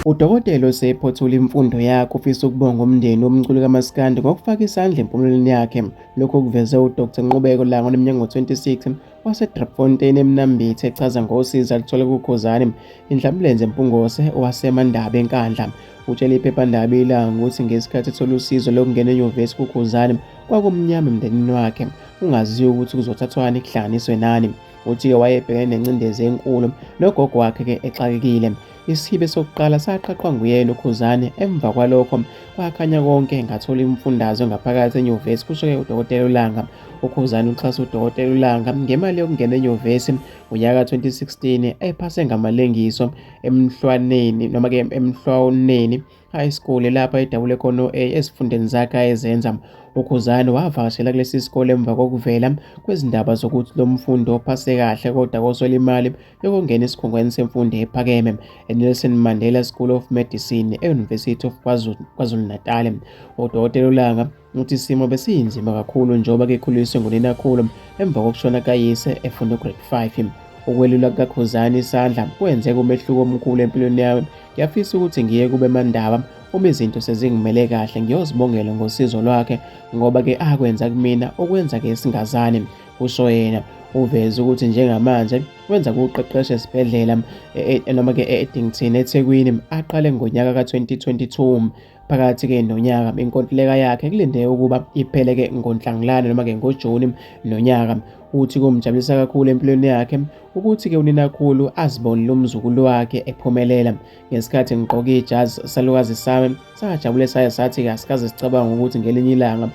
Udokotela osephothula imfundo yakhe ufisa ukubonga umndeni womculi kamaskandi ngokufaka isandla empumelelweni yakhe. Lokho kuveze uDr Nqubeko Langa oneminyaka ngo-26 waseDrepfontein eMnambithi echaza ngosizi aluthole kuKhuzani indlambulenze eMpungose waseMandabe eNkandla utshele iphephandaba ilanga ukuthi ngesikhathi ethola usizo lokungena enyuvesi kuKhuzani kwakumnyama emndenini wakhe ungaziwa ukuthi kuzothathwani kuhlanganiswe nani uthi-ke wayebhekene nencindezi enkulu nogogo wakhe-ke exakekile Isibe sokuqala saqaqwa nguyena uKhuzane emva kwalokho kwakhanya konke ngathola imfundazo ngaphakathi enyuvesi kusho-ke udokotela uLanga. UKhuzane uxhasa udokotela uLanga ngemali yokungena enyuvesi ngonyaka 2016 ephase ngamalengiso emhlwaneni noma-ke emhlwaneni High School lapha edabule khona o-A ezifundeni zakhe ayezenza. UKhuzani wavakashela kulesi sikole emva kokuvela kwezindaba zokuthi lo mfundi ophase kahle kodwa koswela imali yokungena esikhungweni semfundo ephakeme eNelson Mandela School of Medicine e-University of KwaZulu-Natal. Udokotela uLanga Uthi isimo besiyinzima kakhulu njengoba kekhuliswe nguninakhulu emva kokushona kayise efunda ugrade 5. Ukwelula kukaKhuzani isandla kwenze kumehluko omkhulu empilweni yami. Ngiyafisa ukuthi ngiye kube mandaba uma izinto sezingimele kahle ngiyozibongela ngosizo lwakhe ngoba ke akwenza kumina okwenza ke singazani kusho yena uveze ukuthi njengamanje wenza kuqeqesha esibhedlela e, e, noma-ke e-edington ethekwini aqale ngonyaka ka-2022 Phakathi-ke nonyaka inkontileka yakhe kulindeke ukuba iphele-ke ngoNhlangulana noma-ke ngoJuni nonyaka. Uthi kumjabulisa kakhulu empilweni yakhe ukuthi-ke uninakhulu azibonile umzukulu wakhe ephumelela. Ngesikhathi ngigqoke ijazi salukazi sami sajabule saye sathi-ke asikaze sicabanga ukuthi ngelinye ilanga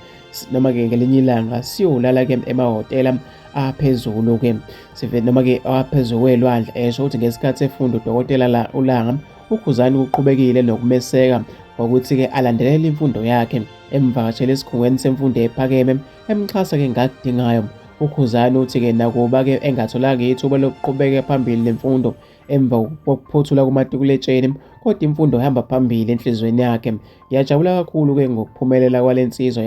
noma-ke ngelinye ilanga siyolala-ke emahhotela aphezulu-ke noma-ke aphezulu kwelwandle esho ukuthi ngesikhathi efunda udokotela la ulanga UKhuzani uqhubekile nokumeseka ngokuthi-ke alandelele imfundo yakhe emvakashele esikhungweni semfundo ephakeme emxhasa-ke ngakudingayo ukhuzani uthi-ke nakuba-ke engatholanga ithuba lokuqhubeka phambili nemfundo emva kokuphothula kumatikuletsheni kodwa imfundo ihamba phambili enhliziyweni yakhe ngiyajabula kakhulu-ke ngokuphumelela kwale nsizwa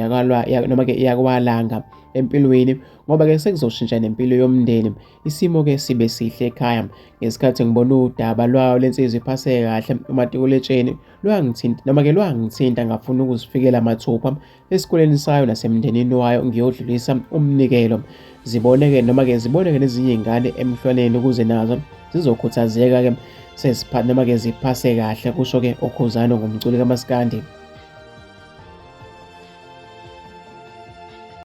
noma-ke yakwalanga empilweni ngoba-ke sekuzoshintsha nempilo yomndeni Isimo ke sibe sihle ekhaya ngesikhathi ngibona udaba lwayo lensizwa iphaseke kahle umatikuletsheni lwangithinta noma ke lwangithinta ngafuna ukuzifikela mathupha esikoleni sayo nasemndenini wayo ngiyodlulisa umnikelo ziboneke noma ke ziboneke nezinye ingane emhlwaneni ukuze nazo zizokhuthazeka ke sesipha noma ke ziphase kahle kusho ke okhuzano ngomculi kamaskandi